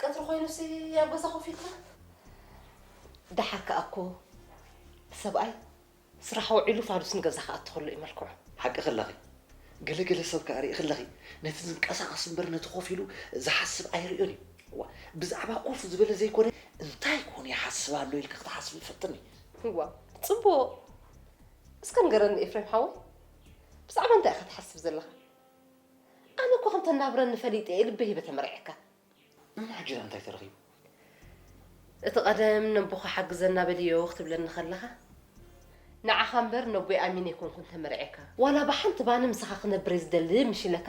ቀትሪ ኮይኑሲ ኣብ ገዛ ኮፍ ኢልካ ደሓር ከኣ እኮ ሰብኣይ ስራሕ ውዒሉ ፋኑስ ንገዛ ክኣቱ ከሎ እዩ መልክዑ ሓቂ ክለኺ ገለ ገለ ሰብ ከኣ ርኢ ክለኺ ነቲ ዝንቀሳቐስ እምበር ነቲ ኮፍ ኢሉ ዝሓስብ ኣይርእዮን እዩ እዋ ብዛዕባ ኮፍ ዝበለ ዘይኮነ እንታይ ኮን ይሓስብ ኣሎ ኢልኪ ክትሓስብ ይፈትኒ እዋ ፅቡቕ እስከ ንገረኒ ኤፍሬም ሓወይ ብዛዕባ እንታይ ኢኻ ትሓስብ ዘለኻ ኣነ እኮ ከም ተናብረኒ ፈሊጠ እየ ልበይ ሂበ ተመርዕየካ። እሞ ሕጂ ዳኣ እንታይ ተረኺቡ? እቲ ቀደም ነቦኻ ሓግዘና በልዮ ክትብለኒ ከለኻ ንዓኻ እምበር ነቦይ ኣሚነ ኣይኮንኩን ተመርዕየካ። ዋላ ብሓንቲ ባኒ ምሳኻ ክነብር እየ ዝደሊ ምሽ ኢለካ።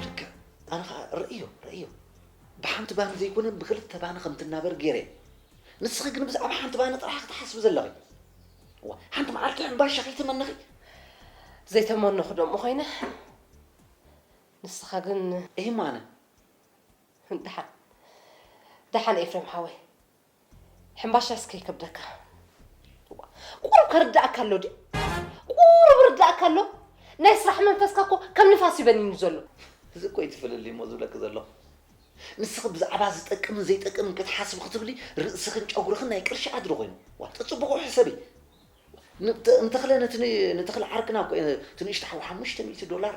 ልክዕ ኣነ ከኣ ርእዮ ርእዮ ብሓንቲ ባኒ ዘይኮነ ብክልተ ባኒ ከም ትናበር ጌረ እየ። ንስኺ ግን ብዛዕባ ሓንቲ ባኒ ጥራሕ ክትሓስቢ ዘለኺ። ሓንቲ መዓልቲ ሕምባሻ ከይተመነኺ ዘይተመነኹ ደሞ ኮይነ ንስኻ ግን ኤማነ ደሓን ደሓን ኤፍሬም ሓወይ ሕምባሻስ ከይከብደካ ቁሩብ ከርዳእካ ኣሎ ድዩ ቁሩብ ርዳእካ ኣሎ ናይ ስራሕ መንፈስካ እኮ ከም ንፋስ ይበኒኑ ዘሎ እዚ እኮ እዩ ትፍልልይ እሞ ዝብለኪ ዘለኹ ንስኺ ብዛዕባ ዝጠቅምን ዘይጠቅምን ክትሓስቢ ክትብሊ ርእስኽን ጨጉርኽን ናይ ቅርሺ ኣድሪ ኮይኑ። ዋእ ተጽብቑ ሕሰቢ። ን ተ ን ተኽለ ነቲ ን ንተኽለ ዓርክና እኮ እየ እቲ ንእሽቶ ሓው ሓሙሽተ ሚእቲ ዶላር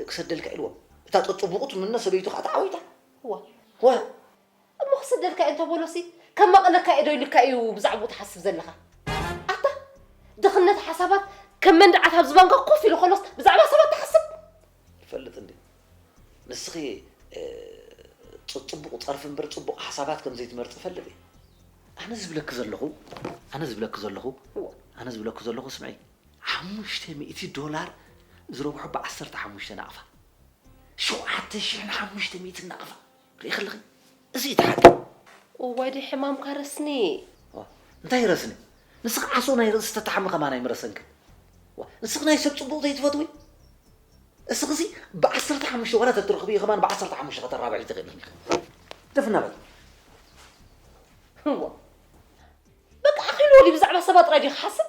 ክሰደልካ ኢልዎ። እታ ጸጽቡቑ ትምነ ሰበይቱ ከኣ ተዓዊታ። ዋእ ዋእ። እሞ ክሰደልካ እየ እንተ በሎሲ ከማቕለካ እየ ዶ ኢሉካ እዩ ብዛዕብኡ ትሓስብ ዘለኻ። ኣታ ድኽነት ሓሳባት ከም መንድዓት ኣብ ዝባንካ ኮፍ ኢሉ ከሎስ ብዛዕባ ሰባት ትሓስብ። ይፈልጥ እንድዩ ንስኺ ጽጽቡቕ ጸርፊ እምበር ጽቡቕ ሓሳባት ከም ዘይትመርጺ እፈልጥ እየ። ኣነ ዝብለኪ ዘለኹ ኣነ ዝብለኪ ዘለኹ ኣነ ዝብለኪ ዘለኹ ስምዒ። ሓሙሽተ ሚእቲ ዶላር ዝረብሑ ብዓሰርተ ሓሙሽተ ናቕፋ። ሸውዓተ ሽሕን ሓሙሽተ ሚእትን ናቕፋ። ርኢኺ ኣለኺ እዚ እዩ እቲ ሓቂ። እዋይ ደይ ሕማምካ ረስኒ። እንታይ ይረስኒ ንስኺ ዓሶ ናይ ርእሲ ተታሕሚ ከማን ኣይምረሰንክን ንስኺ ናይ ሰብ ጽቡቕ ዘይትፈትዊ እስኺሲ ብዓሰርተ ሓሙሽተ ዋላ ተትረኽብዮ ከማን ብዓሰርተ ሓሙሽተ ከተራብሒ ትኽእልን ኢኺ ደፍና በል እዋ በቃ ኣኺሉ ወዲ ብዛዕባ ሰባት ጥራይ ዲኺ ሓስብ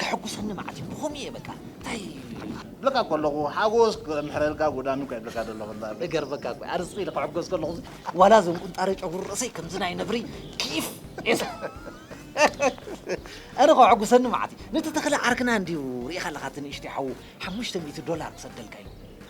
ከሕጉሰኒ መዓት እዩ ብኸምኡ እየ በቃ እንታይ ብለካ ከለኹ ሓጎስ ክምሕረልካ ጉዳሚ እኳ ይብለካ ዘለኹ እንዳ በል። እገርመካ እኮ ኣርስቲ ኢለ ክሕጎስ ከለኹ እዚ ዋላ እዞም ቁንጣረ ጨጉሪ ርእሰይ ከምዚ ናይ ነብሪ ኪፍ ኤስ ኣነ ከሕጉሰኒ መዓት እዩ ነቲ ተኽለ ዓርክና እንድዩ ርኢኻ ኣለኻ እቲ ንእሽተይ ሓዉ ሓሙሽተ ሚእቲ ዶላር ክሰደልካ እዩ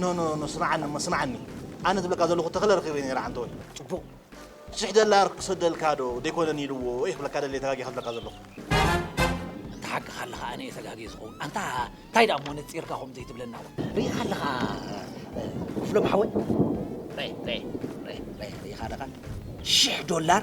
ኖ ኖ ኖ ስምዓኒ እሞ ስምዓኒ ኣነ ዝብለካ ዘለኹ ተኽለ ረኺበዮ ነይረ ዓንተወይ ፅቡቕ ሽሕ ደላር ክሰደልካ ዶ ዘይኮነን ኢልዎ እየ ክብለካ ደልየ ተጋጊኻ ዝብለካ ዘለኹ ተሓቅኻ ኣለኻ ኣነ እየ ተጋጊ ዝኸውን ኣንታ እንታይ ደኣ እሞ ነፂርካ ከምኡ ዘይትብለና ርኢኻ ኣለኻ ክፍሎም ሓወይ ርኢኻ ኣለኻ ሽሕ ዶላር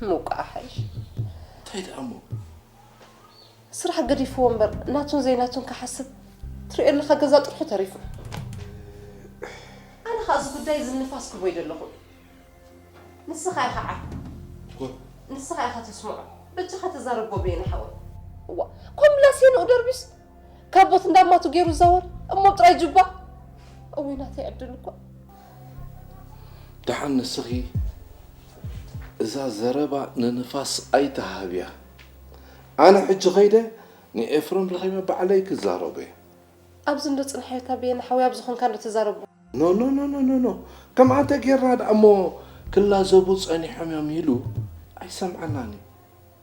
እሞ እኳ ኣሐይሽ። እንታይ ደኣ እሞ ስራሕ ገዲፍዎ እምበር ናቱን ዘይናቱን ክሓስብ ትሪኦ ኣለኻ ገዛ ጥርሑ ተሪፉ። ኣነ ኸኣ እዚ ጉዳይ እዚ ንፋስ ክህቦ ኣይደለኹን። ንስኻ ኢኻ ዓርኩ፣ ንስኻ ኢኻ ተስምዖ፣ በጃኻ ተዛረቦ ብየነ ሓወይ። እዋ ኮምላስ የንኡ ደርቢስ ካቦት እንዳማቱ ገይሩ ይዛወር እሞ ጥራይ ጁባ እውይ ናተይ ዕድል እኳ። ደሓን ንስኺ እዛ ዘረባ ንንፋስ ኣይትሃብያ ኣነ ሕጂ ከይደ ንኤፍረም ረኺበ ባዕለይ ክዛረቦ እየ። ኣብዚ እንዶ ጽንሓዮ እታ በየነ ሓወይ ኣብዚ ኮንካ እንዶ ተዛረቦ። ኖኖኖኖኖኖ ከምኣ እንተ ጌርና ደኣ እሞ ክላዘቡ ጸኒሖም እዮም ኢሉ ኣይሰምዓናን እዩ።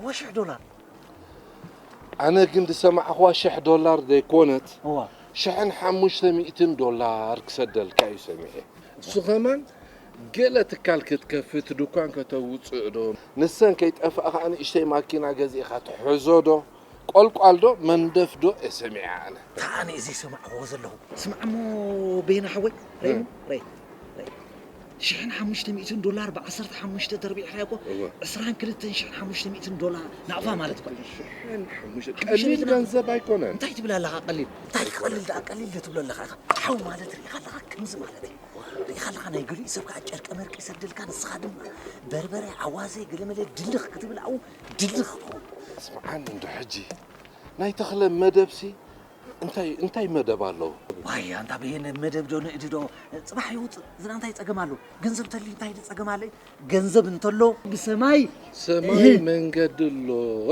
እወ ሽሕ ዶላር። ኣነ ግን ዝሰማዕኽዋ ሽሕ ዶላር ዘይኮነት እወ። ሽሕን ሓሙሽተ ሚእትን ዶላር ክሰደልካ እዩ ሰሚዐ። እሱ ከማን ገለ ትካል ክትከፍት ዱኳን ከተውጽእ ዶ ንሰን ከይጠፍኣ ከኣ ንእሽተይ ማኪና ገዚእኻ ትሕዞ ዶ ቆልቋል ዶ መንደፍ ዶ እየ ሰሚዐ ኣነ። እታ ኣነ ዝይሰማዕኽዎ ዘለኹ ስማዕ እሞ በየነ ሓወይ ረይ እሞ ረይ ረይ። ሽሕን ሓሙሽተ ሚእትን ዶላር ብዓሰርተ ሓሙሽተ ተርቢዕኻ እኮ እወ። ዕስራን ክልተን ሽሕን ሓሙሽተ ሚእትን ዶላር ናቕፋ ማለት እኮ እዩ። ሽሕን ሓሙሽተ ሓሙሽተ ቀሊል ሚእትን ናቕፋ። ገንዘብ ኣይኮነን። እንታይ ትብል ኣለኻ ቀሊል እንታይ ክቐልል ደኣ ቀሊል ዶ ትብሎ ኣለኻ ኢኻ ሓው ማለት ርኢኻ ኣለኻ ከምዚ ማለት እዩ ርኢኻ ኣለኻ ናይ ገሊኡ ሰብ ከዓ ጨርቀ መርቂ ይሰደልካ ንስኻ ድማ በርበረ ኣዋዘ ገለመለ ድልኽ ክትብል ኣብኡ ድልኽ ትኸውን ስምዓኒ እንዶ ሕጂ ናይ ተኽለ መደብሲ እንታይ እንታይ መደብ ኣሎ? ዋይ ኣንታ በየነ መደብ ዶ ንእዲ ዶ ጽባሕ ይውጽእ ዝና እንታይ ጸገም ኣሎ ገንዘብ ተሊ እንታይ ጸገም ኣለ ገንዘብ እንተሎ ብሰማይ ሰማይ መንገዲ ኣሎ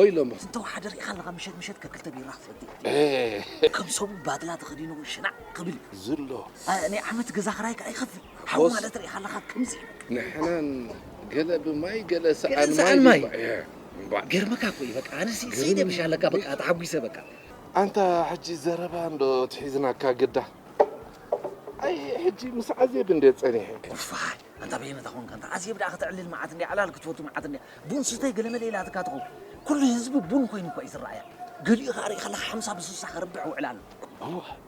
ኢሎም ዝተወሓደ ርኢኻ ኣለኻ ምሸት ምሸት ከክልተ ቢራ ክትሰቲ ከም ሰቡ ባድላ ተኸዲኑ ሽናዕ ክብል ዝሎ ናይ ዓመት ገዛ ክራይ ከዓ ይኸፍል ሓው ማለት ርኢኻ ኣለኻ ከምዚ ንሕናን ገለ ብማይ ገለ ሰኣን ማይ ገርመካ እኮ እዩ በቃ ኣነሲ ሰይደ ብሻለካ በቃ ተሓጒሰ በቃ ኣንታ ሕጂ ዘረባ እንዶ ትሒዝናካ ግዳ ኣይ ሕጂ ምስ ዓዜብ እንዴ ጸኒሐ ኡፋይ ኣንታ በየነ ተኾንካ እንታ ዓዜብ ደኣ ከተዕልል መዓት እንዴ ዕላል ክትፈቱ መዓት እንዴ ቡን ስተይ ገለመለ ኢላትካ ትኸውን ኩሉ ህዝቢ ቡን ኮይኑ እኳ እዩ ዝረኣያ ገሊኡ ከኣ ርኢኻለካ ሓምሳ ብስሳ ከርብሕ ውዕል ኣሎ ቡን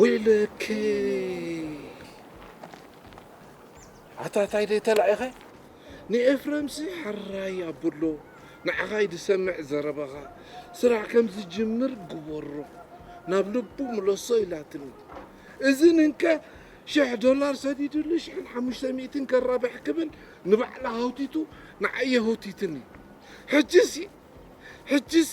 ወይለከይ ኣታ ታይ ደይ ተላኢኸ ንኤፍረምሲ ሐራይ ኣብሎ ንዓኻይ ድሰምዕ ዘረባኻ ስራሕ ከም ዝጅምር ግበሮ ናብ ልቡ ምለሶ ኢላትኒ እዝን እንከ ሽሕ ዶላር ሰዲድሉ ሽሕን ሓሙሽተ ሚእትን ከራብሕ ክብል ንባዕላ ሃውቲቱ ንዓየ ሆቲትኒ ሕጅሲ ሕጅሲ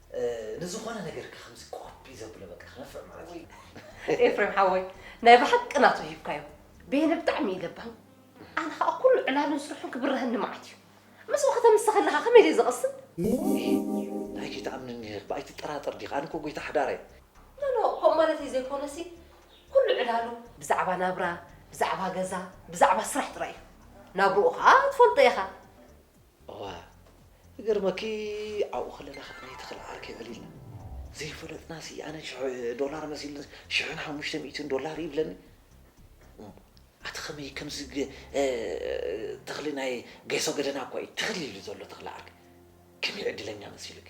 ንዝኾነ ነገር ከምዚ ኮፒ ዘብሎ በቃ ክነፍዕ ማለት እዩ። ኤፍሬም ሓወይ ናይ ብሓቂ ናቱ ሂብካዮ ቤነ ብጣዕሚ እዩ ለባም ኣነ ከዓ ኩሉ ዕላሉን ስርሑን ክብረሀኒ መዓት እዩ ምስኡ ከተምስተ ከለካ ከመይ ዘይ ዘቕስን ናይ ጌታ ኣምኒ ኒህር ብኣይ ትጠራጠር ዲኻ ኣነ እኮ ጎይታ ሓዳረይ ኖኖ ከምኡ ማለተይ ዘይኮነሲ ኩሉ ዕላሉ ብዛዕባ ናብራ ብዛዕባ ገዛ ብዛዕባ ስራሕ ጥራይ እዩ ናብርኡ ከዓ ትፈልጦ ኢኻ እወ ክገርመኪ ኣብኡ ከለና ከኣ ናይ ተኽለ ዓርከይ ዕሊልና ዘይፈለጥናሲ ኣነ ሽሕ ዶላር መሲሉ ሽሕን ሓሙሽተ ሚእትን ዶላር ይብለኒ ኣቲ ከመይ ከምዚ ተኽሊ ናይ ጌሶ ገደና እኳ እዩ ተኽሊ ኢሉ ዘሎ ተኽለ ዓርከይ ከመይ ዕድለኛ መሲሉኪ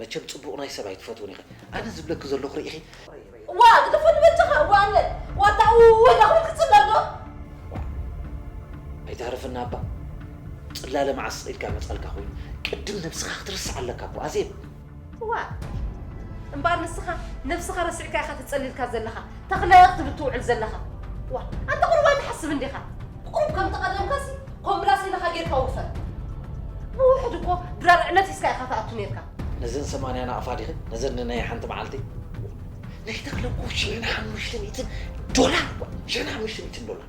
መቸም ጽቡቕ ናይ ሰብ ኣይትፈትውን ኢኺ ኣነ ዝብለኪ ዘለኹ ርኢኺ። ዋእ ክትፎ ንበጃኻ እወ ኣነ ዋጣ እወ ዳኹል ክጽለል ዶ። ዋእ ኣይትሃርፍና እባ ጽላለ መዓስ ኢልካ መጻልካ ኮይኑ ቅድም ነብስኻ ክትርስዕ ኣለካ እኮ ኣዜብ። ዋእ እምበኣር ንስኻ ነብስኻ ረሲዕካ ኢኻ ተጸሊልካ ዘለኻ። ተኽለ ክትብል ትውዕል ዘለኻ ዋ ኣንተ ቁሩብ ኣይትሓስብን ዲኻ? ቁሩብ ከም ተቐደምካሲ ኮምብላስ ኢልኻ ጌርካ ውፈር ብውሕድ እኮ ድራር ዕነት ሒዝካ ኢኻ ትኣቱ ኔርካ። ነዘን ሰማንያ ናቕፋ ዲኺ ነዘን ንናይ ሓንቲ መዓልቲ ናይ ተኽለ እኮ ሽሕን ሓሙሽተ ሚእትን ዶላር እኳ ሽሕን ሓሙሽተ ሚእትን ዶላር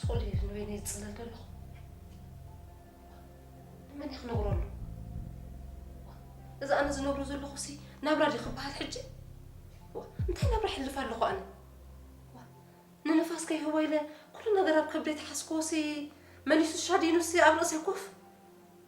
ስቆል እዩ ንበይነይ ዝፅለል ዘለኹ ንመን እየ ክነግረሉ እዚ ኣነ ዝነብሮ ዘለኹ ሲ ናብራ ድዩ ክበሃል ሕጂ እንታይ ናብራ ሕልፍ ኣለኹ ኣነ ንንፋስ ከይህቦ ኢለ ኩሉ ነገር ኣብ ከብደይ ተሓስክዎ ሲ መሊሱ ሻዲኑ ሲ ኣብ ርእሰይ ኮፍ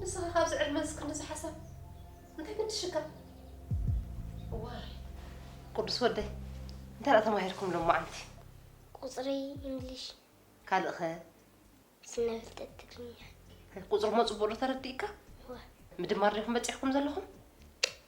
ንስኻ ካብዚ ዕድመንስ ክንድዚ ሓሳብ እንታይ ግድሽካ? እዋይ ቅዱስ ወደይ እንታይ ደኣ ተማሂርኩም ሎማዓንቲ? ቁጽሪ፣ እንግሊሽ። ካልእ ከ? ስነ ፍልጠት ትግርኛ። ቁጽሪ እሞ ጽቡቕ ዶ ተረዲእካ? እወ። ምድማር ዲኹም በጺሕኩም ዘለኹም?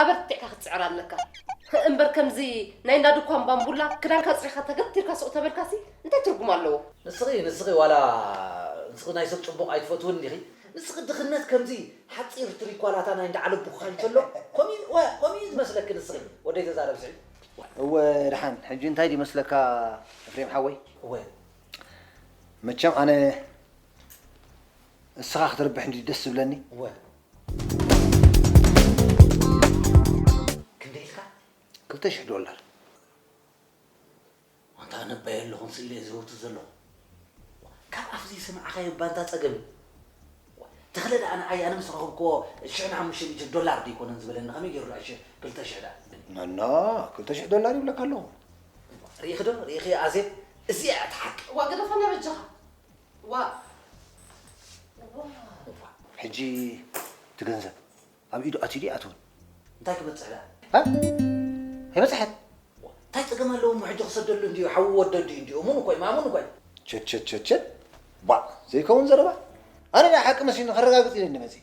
ኣበርቲዕካ ክትጽዕር ኣለካ እምበር ከምዚ ናይ እንዳ ድኳን ባንቡላ ክዳንካ ኣጽሪካ ተገቲርካ ሱቅ ተበልካሲ እንታይ ትርጉም ኣለዎ። ንስኺ ንስኺ ዋላ ንስኺ ናይ ሰብ ጽቡቕ ኣይትፈትውን ዲኺ ንስኺ ድኽነት ከምዚ ሓጺር ትሪኳላታ ናይ እንዳ ዓለቡካ እንተሎ ከምኡ እዩ ዋእ ከምኡ እዩ ዝመስለኪ ንስኺ ወደይ ተዛረቢ ስዒድ እወ ደሓን ሕጂ እንታይ ድዩ መስለካ ኤፍሬም ሓወይ እወ መቸም ኣነ እስኻ ክትርብሕ እንድዩ ደስ ዝብለኒ። እወ ክንደይ ኢልካ? ክልተ ሽሕ ዶላር። ኣንታ ኣነ እባ የለኹን ስለ ዝህውቱ ዘለኹ ካብ ኣፍ ዘይሰማዕኻዮ ባንታ ጸገም እዩ። ተኽለ ደኣ ንዓይ ኣነ ምስ ረኸብክዎ ሽሕን ሓሙሽተ ሚእትን ዶላር ዶ ኣይኮነን ዝበለኒ ከመይ ገይሩ ደኣ ሽ- ክልተ ሽሕ ደኣ ይብለኒ? ነኖ ክልተ ሽሕ ዶላር ይብለካ ኣለኹ። ርኢኺ ዶ ርኢኺ ኣዜብ እዚኣ እያ እቲ ሓቂ። እዋ ግደፈና በጃኻ። ሕጂ እቲ ገንዘብ ኣብ ኢዱ ኣትዩ ድዩ ኣይኣተወን? እንታይ ክበጽሕ ደኣ? ኣይበጽሐን። እንታይ ጸገም ኣለዎ እሞ ሕጂ ክሰደሉ እንድዩ ሓዉ ወዲ ኣዲኡ እንድዩ እሙን እኮ እዩ ማእሙን እኮ እዩ። ቸቸቸቸ ባእ ዘይከውን ዘረባ ኣነ ናይ ሓቂ መሲሉኒ ከረጋግጽ ኢለ እንዲ መጺእ።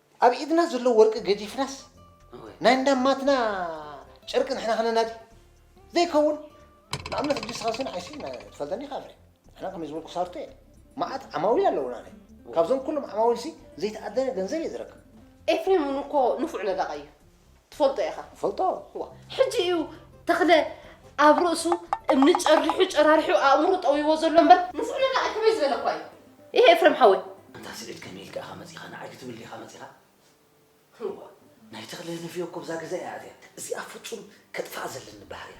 ኣብ ኢድና ዘሎ ወርቂ ገዲፍናስ ናይ እንዳ ማትና ጨርቂ ንሕና ክነናዲ ዘይከውን ንኣብነት ሕጂ ንስኻ ስን ዓይሲ ትፈልጠኒ ኢኻ ፍሬ ንሕና ከመይ ዝበልኩ ሳርቶ እየ መዓት ዓማዊል ኣለውና ናይ ካብዞም ኩሎም ዓማዊልሲ ዘይተኣደነ ገንዘብ እየ ዝረክብ ኤፍሬም እውን እኮ ንፉዕ ነዳቓይ እዩ ትፈልጦ ኢኻ። እፈልጦ። እዋ ሕጂ እዩ ተኽለ ኣብ ርእሱ እምኒ ጨሪሑ ጨራሪሑ ኣእምሩ ጠውይዎ ዘሎ እምበር ንፉዕ ነቃዒ ከመይ ዝበለ እኳ እዩ ይሄ ኤፍረም ሓወይ። ኣንታ ስዒድ ከመይ ኢልካ ኢኻ መጺኻ ንዓይ ክትብል ዲኻ መጺኻ? እዋ ናይ ተኽለ ንፍዮ እኮ ኣብዛ ገዛ እያ ኣትያ። እዚኣ ፍጹም ከጥፍኣ ዘለኒ ባህሪ እያ።